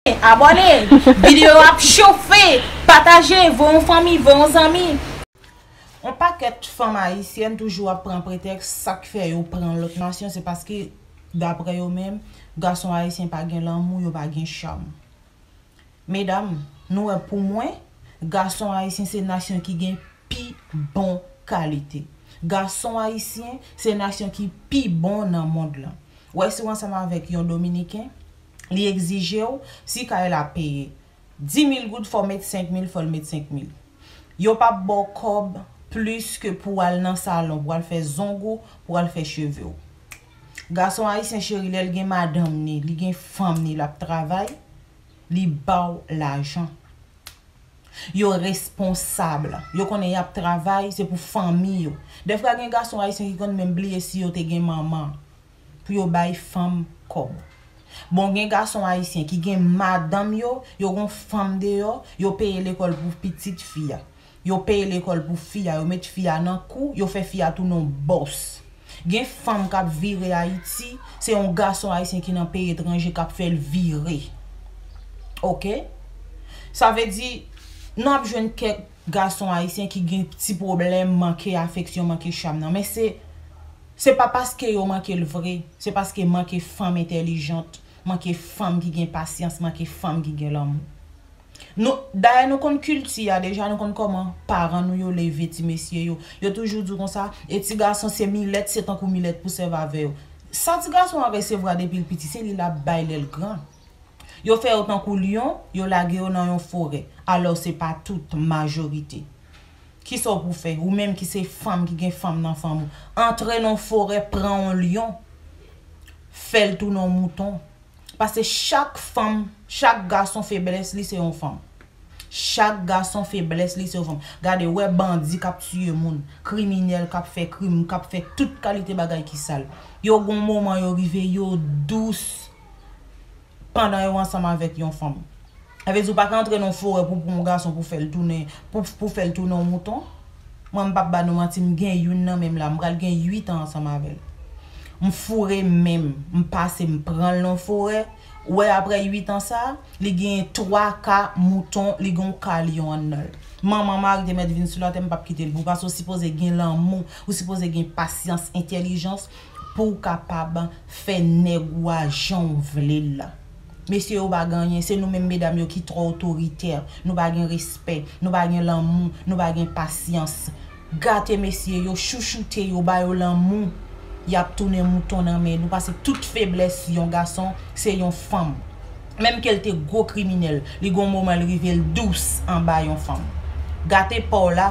Abòne! Video yo ap chofe! Pataje! Voye yon fanmi, voye yon zanmi! On pakèt fanm ayisyèn toujou ap pran pretèks sak fè yo pran lòt nasyon se paske daprè yo menm gason ayisyen pa gen lanmou yo pa gen cham medam nou wè pou mwen gason ayisyen se nasyon ki gen pi bon kalite gason ayisyen se nasyon ki pi bon nan mond lan wè si w ansanm avèk yon dominiken li egzije w si kay la peye 10000 goud fò w met 5000 fò l met 5000 yo pa p ba w kòb plis ke pou w al nan salon pou w al fè zong ou pou w al fè cheve w gason ayisyen cheri lè l gen madanm ni li gen fanm ni l ap travay li ba w lajan yo responsab yo konnen y ap travay se pou fanmi yo dèfwa gen gason ayisyen ki konn menm bliye si yo te gen manman. pou yo bay fanm kòb. Bon gen gason ayisyen ki gen madanm yo, yo gon fanm deyò, yo peye lekòl pou pitit fi a. Yo peye lekòl pou fi a, yo met fi a nan kou, yo fè fi a tounen yon bòs. Gen fanm k ap vire Ayiti, se yon gason ayisyen ki nan peyi etranje k ap fè l vire. Ok. Sa vle di, n ap jwenn kèk gason ayisyen ki gen ti pwoblèm manke afeksyon, manke cham nan. Men se. Se pa paske yo manke l vre, se paske manke fanm entèlijant, manke fanm ki gen pasyans, manke fanm ki gen lanmou. Nou, dayè nou konn kilti a deja, nou konn kòman paran nou yo leve ti mesye yo. Yo toujou di w konsa, e ti gason se milèt, se tankou milèt pou sèv avè yo. Sa ti gason an resevwa depi l piti, se li l ap bay lè l gran. Yo fè yo tankou lyon, yo lage yo nan yon forè. Alò se pa tout, majorite. Kisa w pou fè? Ou menm ki se fanm, ki gen fanm nan fanm ou. Antre nan yon forè, pran yon lyon. Fè l tounen yon mouton. Pase chak fanm, chak gason feblès li se yon fanm. Chak gason feblès li se yon fanm. Gade, wè bandi kap tiye moun. Kriminèl kap fè krim, kap fè tout kalite bagay ki sal. Yo gon moman yo rive, yo dous. pandan yo ansanm avèk yon fanm. Sa vle di ou pa ka antre nan yon forè pou pran yon gason pou fèl tounen pou fèl tounen yon mouton. Mwen m pap ba nou manti m gen youn nan menm la m pral gen 8 an ansanm avèl. M foure menm m pase m pranl nan yon forè ou wè aprè 8 an sa li genyen 3 ka mouton li gen yon ka lyon annanl. Manman mari te mèt vin sou latè m pap kitel pou ou pase ou sipoze gen lanmou ou sipoze gen pasyans entèlijans. pouw kapab fè nèg ou a janw vle l la mesye yo pa gen anyen se nou menm medam yo ki trò otoritè nou pa gen respè nou pa gen lanmou nou pa gen pasyans gate mesye yo chouchoute yo ba yo lanmou yap tounen mouton nan men nou pase tout feblès yon gason se yon fanm menm kel te gwo kriminèl li gon moman l rive l dous anba yon fanm gate paw la.